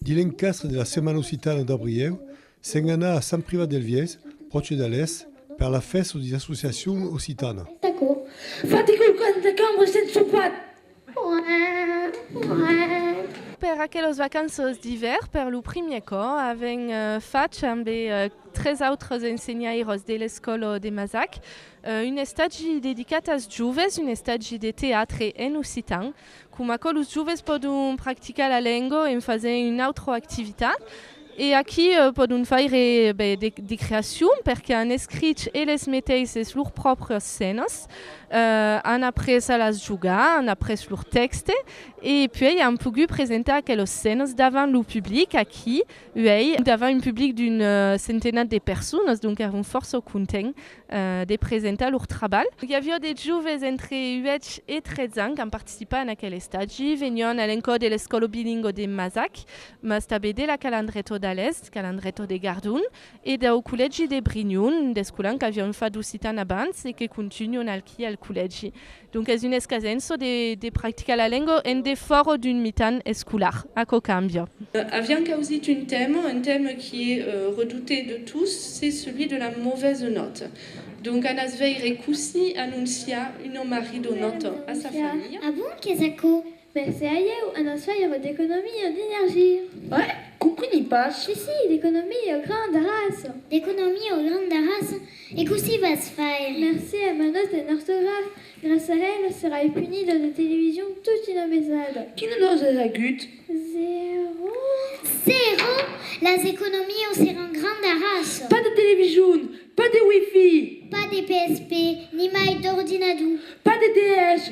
Dins l'encastre de la Setmana Occitana d'Abrieu, se'n anà a Sant Privat del Viès, pròche d'Alès, per la fèsta d'una associacion occitana. D'aquò, fati quauqu'an de cambra s'en sopat. Per aquelas vacanças d'ivèrn, per lo primièr còp, avèm fach ambe tres autres ensenhaires de l'escòla de Mazac Un estagi dedicat as joves, un estagi de teatre en occitan, coma aquò los joves pòdon practicar la lenga en fasent una autra activitat. E aquí pòdon faire de creacion perque an escrich eles meteisses lor pròpria scènas, an après a las jogar, an après lor tèxte e puèi an pogut presentar aquelas scènas davant lo public aquí uèi, davant un public d'un centenat de personas, donc èran fòrça contents. de presentar lor trabalh. I aviá de joves entre 8 e 13 ans qu'an participat en aquel estagi, venián a l'encòr de l'escòla bilingua de Masac, mas tanben de la Calandreto d'Alèst, Calandreto de Gardon, e dau collègi de Brignon, d'escolan qu'avián fat d'occitan abans e que continuan alqui al collègi. Donc es un escasenço de practicar la lenga en defòra d'un mitan escolar. Aquò cambia. Avián causit un tèma, un tèma qui es redouté de tous, c'est celui de la mauvaise note. Donc anas veire cossí anonciar una marridonòta a sa familha. Ah bon, qu'es aquò? Mès se ailhèu un ensaire d'economia d'energia. Hè? Compreni pas. Si, si, d'economia granda raça. D'economia granda raça? E cossí vas faire? Mercé a ma nòta en ortograf, gras a ela serai punida de television tot una mesada. Quina nòta as agut? Zèro. Zèro? Las economios seràn granda raça. Pas de television! Pas de wifi! Pas de PSP, nimai d'ordinador! Pas de DS!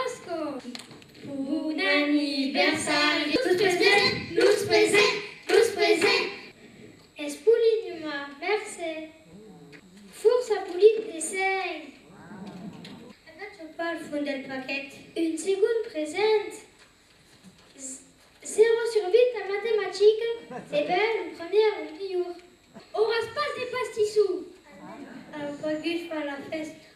Òsca! Bon anniversari! Los presents! Los presents! Los presents! Es polit numa! Mercé! Fòrça polit de seny! Agat çò pas al fond del paquet. Un segond present! Zero sur vint a matematica, se bèl, un premier, un milhor. Auras pas de pastissó! Au pas gust per la fèsta.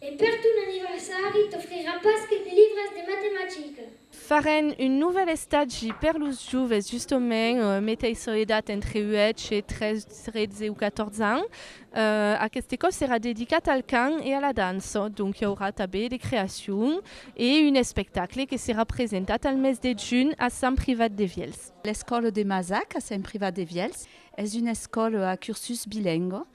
E per ton anniversari t'ofrirà pas que de libres de matematica. Farem un novèl estagi per los joves justament, meteissa edat entre 8 e 13 o 14 ans. Aqueste còp serà dedicat al cant e a la dança, donc i aurà tanben de creacion e un espectacle que serà presentat al mes de junh a Sant Privat de Vielhs. L'escòla de Mazac a Sant Privat de Vielhs es una escòla a cursus bilengua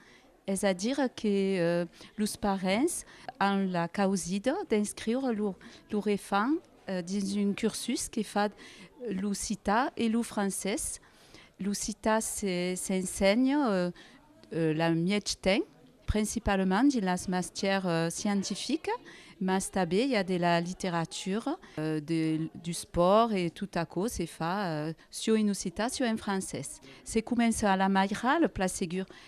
Es a dire que los parents an la causida d'inscriure lor efant dins un cursus que fa l'occitan e lo francés. L'occitan s'ensenha la mièg temps, principalament dins las mastieras scientificas, mas tanben i a de la literatura, du spòrt e tot aquò se fa siò en occitan siò en francés. Se comença a la Mairal, Place Segur,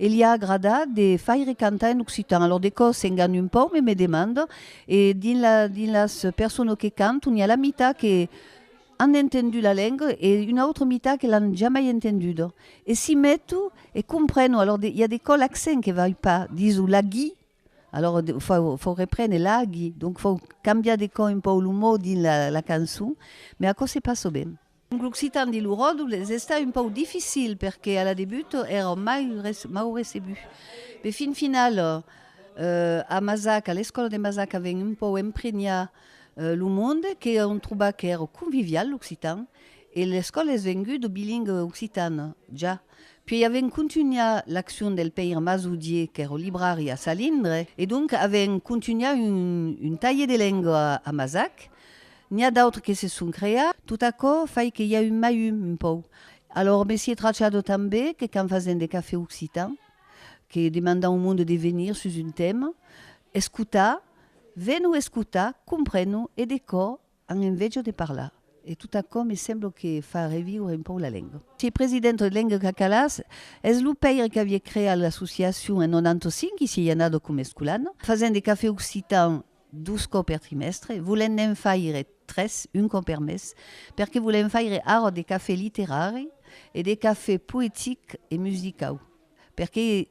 e li a agradat de faire cantar en occitan. Alòr de còs s'engane un pauc, me me demande, e dins la, dins las persones que canton, i a la mitat que an entendu la lenga e una autra mitat que l'an jamai entenduda. E si meto e compreno, alòr de, i a de cò l'accent que vai pas, diso laghi, Alòr fau reprene l'agi, donc fau cambiar de còp un pòu lo mot dins la la cançon, mai aquò se passa ben. Donc l'occitan de lo Ròdol es estat un pòu dificil perque a la debut èra mai mau recebut, mai fin final a Masac, a l'escòla de Masac avèn un pòu empregnar lo monde que on trobar qu'èra convivial l'occitan e l'escòla es venguda bilingue occitana, ja. Puèi avèm contunhar l'accion del pèir Masaudier qu'èr au librari a Salindre, e donc avèm contunhar un talhe de lengua a Masac. N'i a d'autres que se son creat, tot aquò fai que i a un mai un, un pòu. Alòr Messier Trachado tanbe, que quand fasèm de cafè occitan, que demandam au monde de venir sus un tèma, escotar, vèn-o escotar, compren-o, e de cò An enveja de parlar. E tot aquò me sembla que fa reviure un pauc la lenga. Se president de Lenga Cacalàs es lo paire qu'aviá creat l'associacion en 95 i se i anada coma escolana, fasent de cafè occitan dos còps per trimèstre, volent ne'n faire tres, un còp per mes, perque volem faire ara de cafè literari e de cafè poetic e musicau, perque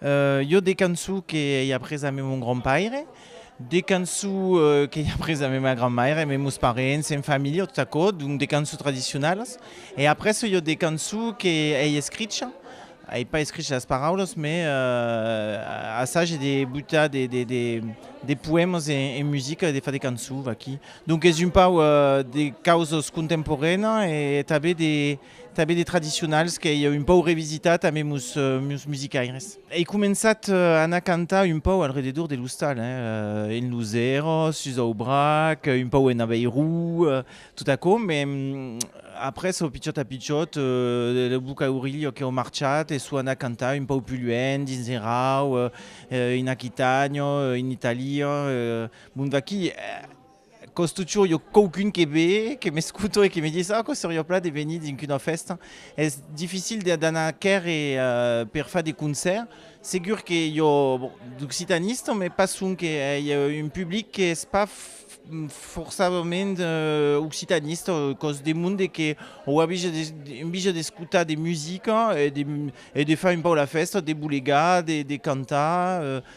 Jo de cançons que ei après a mon grand paire, de cançons qu'ei après a ma grand maire, mes meus parents, en familha tot aquò, donc de cançons tradicionalas e après jo de cançons que ei escricha, ei pas escricha las paraulas mais assage de butar de poèmas en musica e de far de cançons vaquí, donc es un pauc de causas contemporanas e tanben de Tanben de tradicionals qu'ei un pòu revisitat ambe mos musicaires. Ei començat a anar cantar un pòu al rededor de l'ostal, en lo Zero, sus Aubrac, un pòu en Aveiru, tot aquò, me après au pichòt a pichòt lo boca orilha qu'eu marchat e sò anat cantar un pòu pus luènh, dins Erau, en Aquitània, en Itàlia, bon vaquí. Còs totjorn i a quauqu'un que ve, que m'escuta e que me ditz, ah, quò seriá plat de venir dinc una fèsta. Es dificil d'anar quèrre per far de concèrt. Segur que i a d'occitanista, mès pas sonque. I a un public qu'es pas forçadament occitanista, còs de monde que auà enveja d'escutar de musica e de far un pauc la fèsta, de bolegar, de cantar.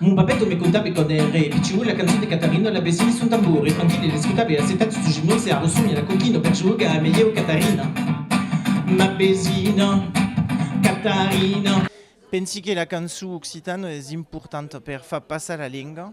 Mon babèto me contabe quand ère pichon la cançon de Catarina la besogne son tambour e tranquille l'escotabe assetat sus un nòse a rossonha la coquina per jogar a melhèu Catarina ma besina Catarina. Pensi que la cançon occitana es importanta per far passar la lenga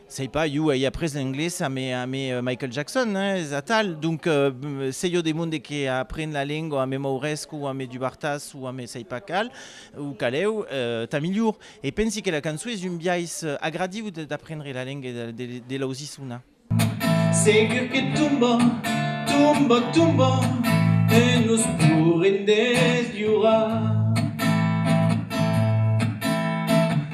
Sei pas, jo ei après l'englés a me a me Michael Jackson, hein, es atal, donc sei jo de monde que apren la lengua a me Mauresc o a me Dubartas o a me sei pas cal o caleu, tà milhor. E pensi que la cançó es un biais agradiu d'aprendre la lengue de l'ausissona. Segur que tomba, tomba, tomba e nos poren deslhorar.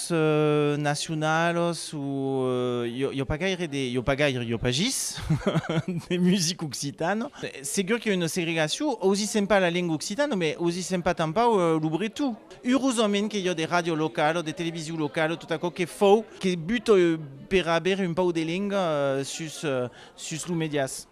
Los nacionalos o jo pas gaire de, jo pas gaire, jo pas gis, de music occitan. Segur qu'i a una segregacion, ausissem pas la lenga occitana, mès ausissem pas tanpau lo breton. Urosament qu'i a de ràdio locala o de television locala o tot aquò que fau, que buta per aver un pauc de lenga sus los medias.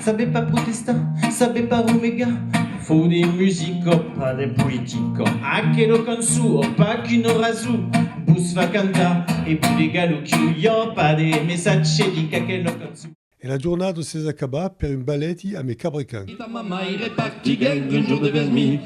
Sabem pas protestar, sabem pas romegar. Fau de musica, pas de politica. Aquela cançó, pas qu'una rasó. Vos fa cantar e pure galuchió. I a pas de messatge dinc aquela cançó. E la jornada s'es acabà per un baleti a me cabrecan. E ta mamà ei repartiguèt un jour de vermilh.